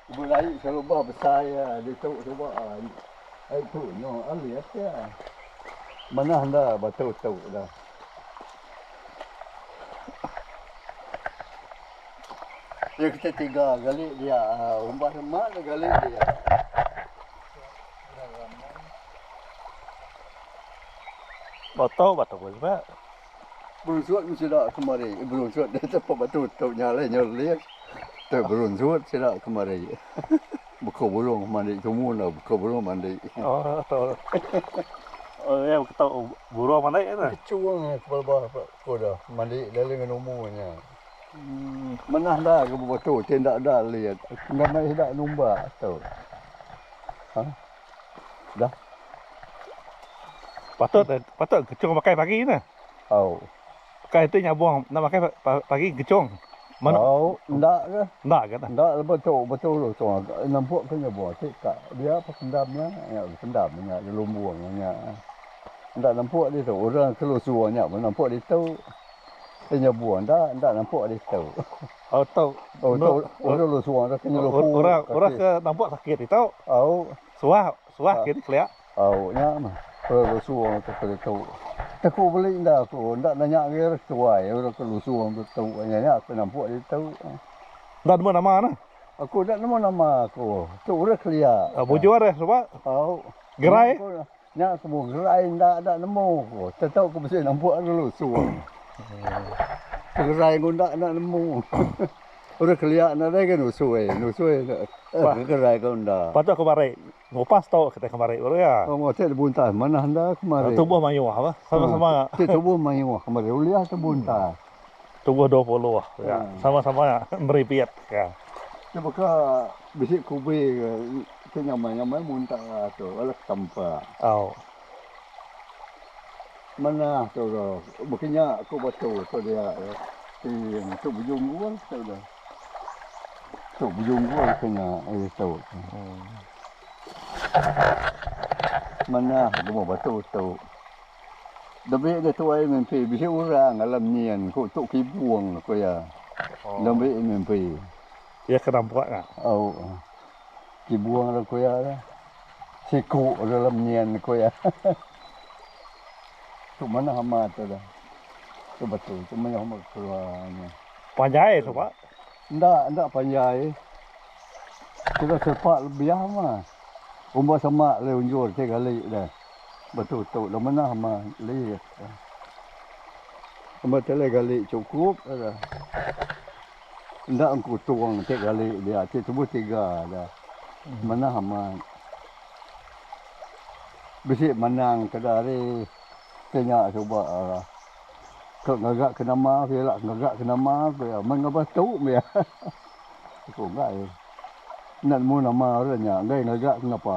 Belaie serubah besai iya ditu suba ai. Ai tu nya alis iya. Manah enda batu tu dah. Iya kite tiga gali dia umbah rema ne gali dia. Boto batu ko suba. Berunsut meh sida kemari. Berunsut deh tu ape batu tu nya alai nyeling. Tu berunsut sida kemari. Beko burung mandi tumu enda beko burung mandi. Oh iya beko burung mandi tu. Kechung pelaba beko da mandi lalu ngan umu nya. Manah enda ke bebatu ti enda da lit. Enda meh sida numbak tu. Dah. Patut eh, patut kecung pakai pagi nah. Au. Pakai tu nyabung nak pakai pagi kecung. Mana? Au, ndak ke? Ndak ke? Ndak lepas tu betul lu tu agak nampuk ke nyabung tu kak. Dia apa pendam nya? Ya pendam nya lumbung nya. Ndak nampuk dia tu orang kelusur nya nampuk dia tu. Dia nyabung ndak, ndak nampuk dia tu. Tau orang ke nampak sakit itu suah suah ke di kelia. Au nya meh orang lusung tu ke ditu. Teku beli enda aku enda nanya agi ari setuai orang ke lusung tu tu nya nya aku nampak ditu. Enda nemu nama ne. Aku enda nemu nama aku. Tu orang kelia. Mujur suba. Au. Gerai. Nya semua gerai enda enda nemu ko. Tetau ko bisi nampuk ari lusung. Gerai ko enda enda nemu. Orang kelia nadai ke nusui, nusui ba gerai ko enda. Patut ke mari ngupas tu kitai ke mari baru iya. Tengok ti dibuntas manah enda kemari. Tubuh mayuh bah sama sama. Ti tubuh mayuh kemari uliah ke buntas. Tubuh dua puluh ka. Sama-sama meripit ka. Nya baka bisi kubi ke ti ngamai-ngamai muntak atu bala ke tampa. Au. Manah tu ke baka nya ku batu tu dia ke ti tu bejunggul tu dia. Tu bejunggul ke nya ari tu. Manah ke batu tu. Debei ga tuai mimpi bisi urang alam nyin ku tu kibung ku iya. Debei mimpi. Iya ke nampak nya. Au. Kibung dah ku iya dah. Siku dah alam nyin ku iya. Tu manah amat tu dah. Tu betul tu meh amat keluar nya. Panjai tu pak. Enda enda panjai. Kira sepak lebiah mah. Umba semak le unjur ti kali dah. Betu tu lu mena ma lih ka. Amba telai gali cukup ka. Enda engku tong ti gali dia ti tubuh tiga da. Mena amat. Bisi manang ke da ari ke nya suba ka. Tu ngaga ke nama ku iya la ngaga ke nama ku iya. Men ngaba tu meh iya. Aku enggai. Enda nemu nama orang nya enggai ngaga ke ngapa.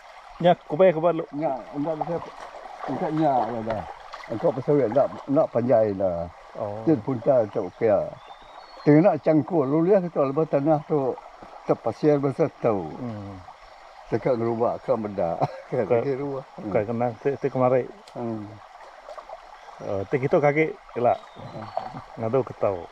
Nya ku payah ke balu. Nya enda bisi engka nya ngagai. Engka pasal wei enda enda panjai enda. Ti dipunta tu pia. Tengena changkul ulih ke tu lebuh tanah tu tepasir basa tu. Teka ngeruba ka meda ka tegi ruah. Bukai kena ti kemari. Ti kitu ke agi ila ngadu ke tau.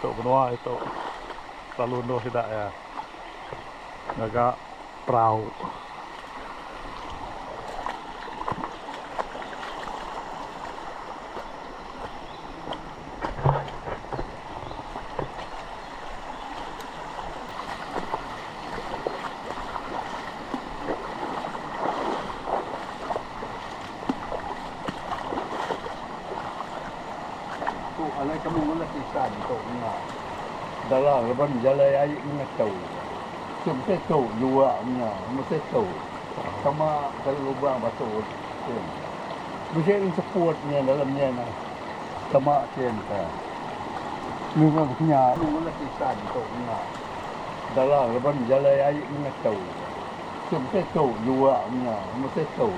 Tu menua itu lalu endur sida iya ngaga perau. Tu alai kami ngulah tisa ditu nya. Dalam laban jalai ai meh tu. Ti mesti tu jua nya. Mesti tu. Sama kali lubang batu kin. Bisi nya seput nya dalam nya nah. Sama kin ka. Kami meh nya kami ngulah tisa ditu nya. Dalam laban jalai ai meh tu. Ti mesti tu jua nya. Mesti tu.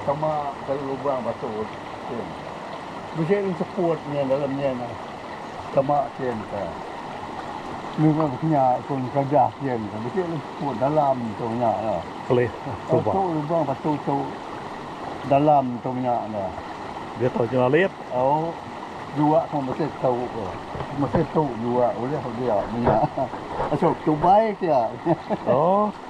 Sama kali lubang batu kin. Bisi nin seput nya dalam nya nya. Sama kin ka. Ni pun nya pun kadah kin ka. Bisi nin seput dalam tu nya nya. Kelih tu ba. Tu lubang batu tu dalam tu nya nya. Dia tau jua lit. Au. Jua pun bisi tu ko. Bisi tu jua ulih dia nya. Asok tubai sia. Oh.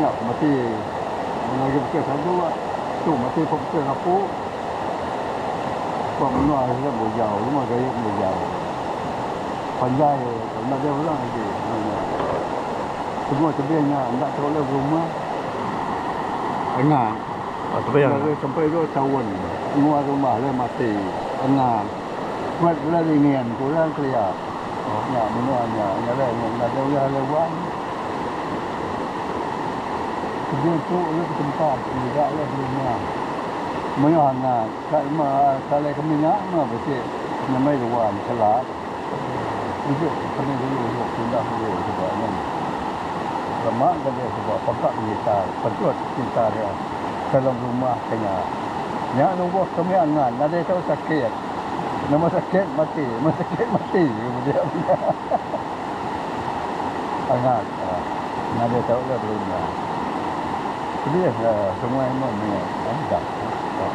Nya ko mati mengagi beka sadu ba tu mati ko beka ngapu ba menua sida bujau lema gaye bujau panjai ko enda deh orang agi eno nya semua tebing nya enda tau leh berumah angat enda leh sampai dua taun menua rumah leh mati angat. Kuat bela dingin, kurang kelia. Oh nya menua nya ngereang nya ngagai ulah alai wang. Kejung tu ulih betempat mega alai berumah. Mayuh angat ka lema salai kami nya meh bisi nyemai ruan selat. Ejek kami dulu ulih pindah meri suba nya. Lema gaga suba peka ngitar pentut ngitar iya. dalam rumah ke nya. Nya nubuh kami angan nadai tau sakit. Nama sakit mati, mun sakit mati ku bedia mega. Angat lah nadai tau lah bala inya. Pedih lah semua amun mega angat lah.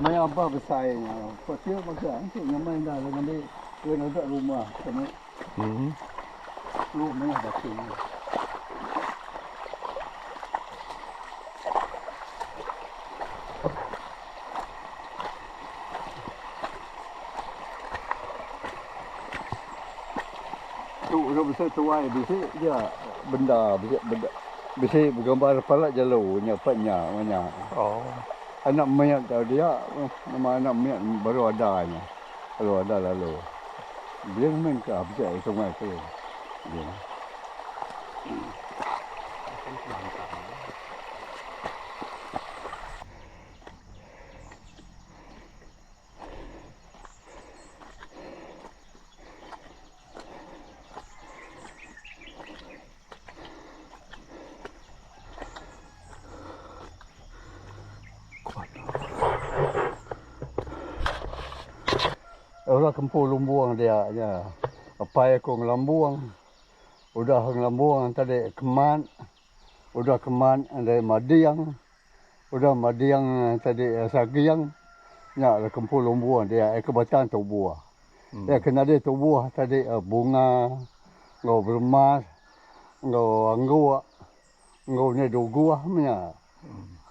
Maya bah besai nya, Pak Sia magang enti nyamai enda alai ngambi gawa ngaga rumah ka meh. Lu meh baka nya. Tu udah besai tuai bisi ja benda bisi benda bisi begambar pala jelu nya apai nya meh nya. Oh. Anak mit tau dia nama anak mit baru ada nya. Baru ada lalu. Dia main ka bisi sungai tu. Dia. Ora kempu lumbung dia nya. Apai aku ngelumbung. Udah ngelumbung tadi keman. Udah keman endai mading. Udah mading tadi saging nya dah kempu lumbuh dia ai ke batang tubuh. Iya ke nadai tubuh tadi bunga enggau beremas enggau angguk enggau nya duguh meh nya.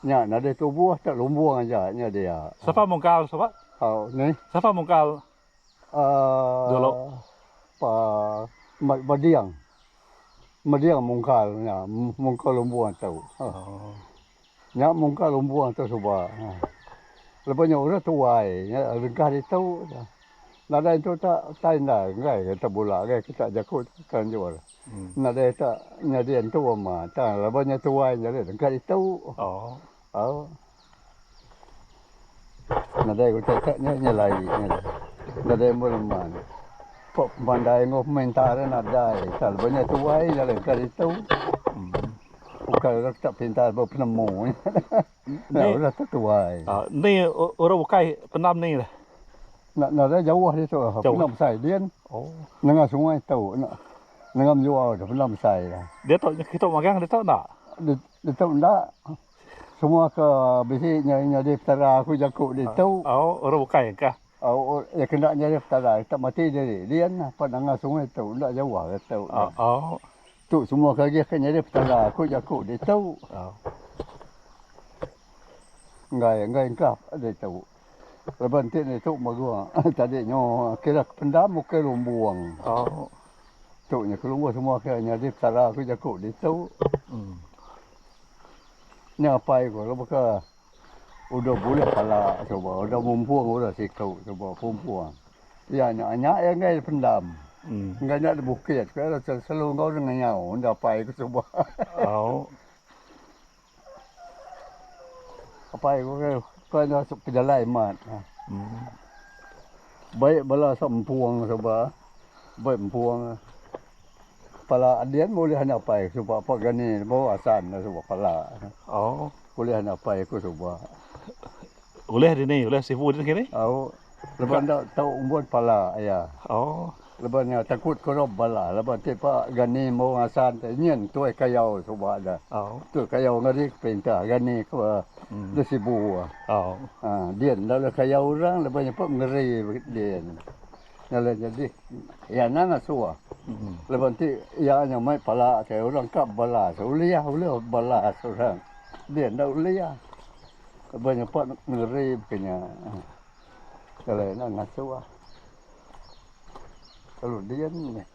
Nya nadai tubuh tak lumbuh aja nya dia. Sapa mungkal sapa? Hau ni. Sapa mungkal? Dolok pa mat mading, mading mungkal nya mungkal lumbung tu. Nya mungkal lumbung tu suba. Lebuh nya orang tuai nya regah ditu nadai tu tak tai enda enggai ke tebula enggai ke tak jaku kelanjur. Nadai tak nyadi entu amat. Lebuh nya tuai jadi regah ditu. Au. Nadai ku cacak nya nya lai nya dah. Nadai ambo leman. Pok pemandai enggau peminta re nadai ka lebuh nya tuai nya leka ditu. Ukai orang kita pinta ba penemu nya dah. Udah tu tuai. Ni orang ukai penam ni dah. Nya nadai jauh ditu penam besai din. Nengah sungai tu nya. Nengah menjua tu penam besai dah. Diatu kita magang ditu enda? Ditu enda semua ke bisi nyadi petara aku jaku ditu. Au orang bukai kah? Au orang iya kena nyadi petara ita mati diri din apan nanga sungai tu enda jauh ari tu nya. Au. Tu semua ke agih ke nyadi petara aku jaku ditu. Au. Enggai enggai engkah ditu. Laban enti ditu magua tadi nyo kira kependam ukai lumbung. Tu nya kelumbu semua kira nyadi petara ku jaku ditu. Nya apai ku laban ke udah bulih pala suba udah mumpung udah siku suba pumpung. Iya nya nya iya enggai dipendam. Enggai nya dibukit ku iya selalu enggau dengayau enda apai ku suba. Apai ku ke ke enda masuk pejalai amat. Baik bala sap empung suba baik empung. Pala ading meh ulih enda apai suba apa gani baru asan suba pala. Ulih enda apai ku suba. Ulih dini ulih sibu dini kini. Au lebuh enda tau umbut pala iya. Oh. Lebuh nya takut kerup bala lebuh ti pa gani embu ngasan ti nyin tuih kayau suba da. Oh. Tuih kayau ngarik perintah gani ke da sibu. Oh. Ha din enda ulih kayau orang lebuh nya pun mengeri din. Nya la nyadi iya anang asu lebuh ti iya nya mai pala ke orang ka balas ulih ulih balas orang din enda ulih. Ba nyepak nengeri ke nya alai enda ngasuh ah. Lalu dian meh.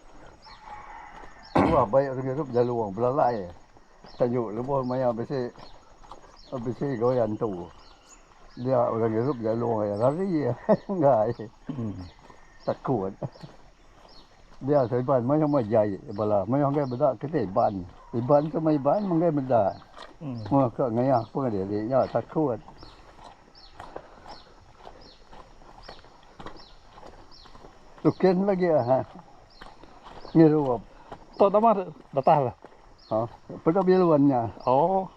Tuah baik orang ngirup lalu wang belalai. Tajuk lebuh maya bisi bisi gawian tu. Dia orang ngirup lalu wang rari enggai. Takut. Dia ke Iban mayuh meh jai bala mayuh enggai meda kitai Iban. Iban ke meh Iban enggai meda. Meh ke ngayah pengadiri nya takut. Tukin lagi aha ngirup. Tok Damar datah la. Ha peda biluan nya. Oh.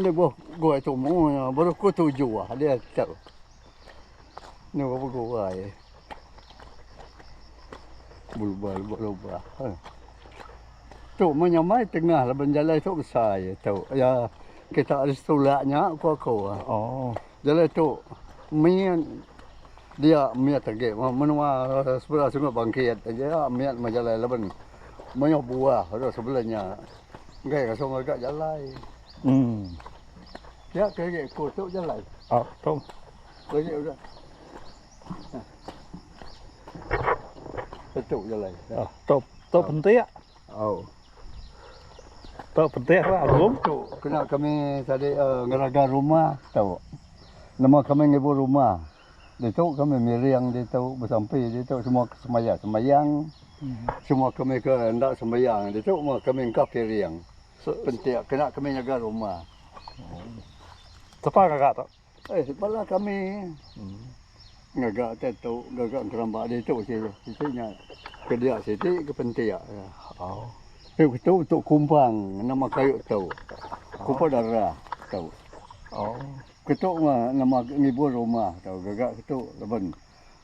Lebuh gua tumu nya baru ku tuju ah dia tu. Ni bapa gua ai. Bulubah lubah lubah. Eh. Tu menyamai tengah laban jalai tu besai ya tu. Ya kita ada setulak nya ku aku. Ah. Oh. Jalai tu min dia miat agi menua sebelah sungai bangkit aja miat majalai laban mayuh buah dah sebelah nya. Enggai rasa ngaga jalai. Hmm. Ya ke ge ko tu jalai. Ah, oh, tu. Ko ge udah. Itu jalai. Ah, oh, tu. Tu oh. penting. Oh. Tu penting lah aku. Tu kena kami tadi uh, ngeraga rumah tu. Nama kami ngibu rumah. Ditu kami miring ditu besampi ditu semua ke semaya sembayang semua kami ke enda sembayang ditu meh kami engkah piring pentik kena kami nyaga rumah. Sapa ngaga tu? Eh bala kami ngaga tetu ngaga engeramba ditu ji siti nya ke dia siti ke pentik tu tu tu kumbang nama kayu tu kupa darah tu. Ketu mah nama agi ngibur rumah tau gaga ketu laban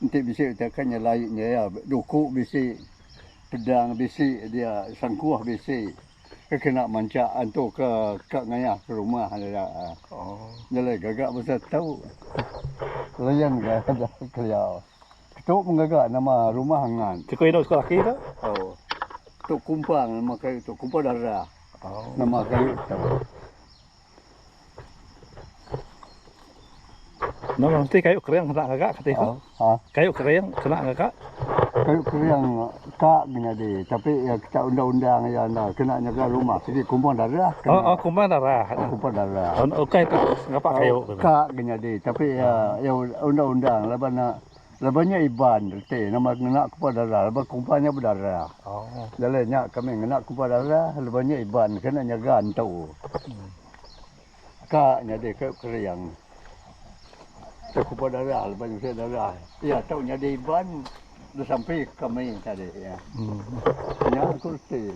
enti bisi betakan nyelai nyaia duku bisi pedang bisi dia sangkuh bisi ke kena manchak antu ke ka ngayah ke rumah nya nyelai gaga basa tau layan ga dah kelia ketu mah gaga nama rumah ngan. Siko inu siko laki tu. Tau tu kumpang nama kayu tu kumpang darah nama kayu tu. Enda lah mesti kayu kering kena ngaga kati ko. Ha. Kayu kering kena ngaga. Kayu kering ka gi nyadi tapi ya kita undang-undang ya enda kena nyaga rumah sigi kumbang darah. Kena. Oh, oh kumbang darah. Oh, kumbang darah. Oh, ukai tu ngapa kayu. Ka gi nyadi tapi ya ya undang-undang laban Laban nya Iban reti nama ngena kumpa dara laban kumpa nya bedara. Jalai nya kami ngena kumpa dara laban nya Iban kena nyaga entu. Ka nyadi ke kering ke kumpa dara laban nya bisi dara. Iya tu nyadi Iban disampi kami tadi. Nya ku reti.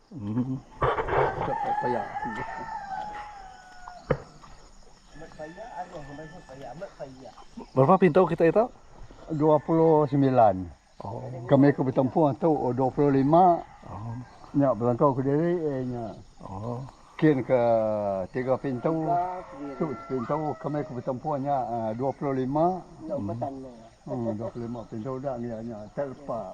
Berapa pintu kita itu? Dua puluh sembilan. Kami ke betempuh tu dua puluh lima. Nya belengkau kediri nya. Kin ke tiga pintu. Tu sepintu kami ke betempuh nya dua puluh lima. Dua puluh lima pintu dah nya. Terlepa.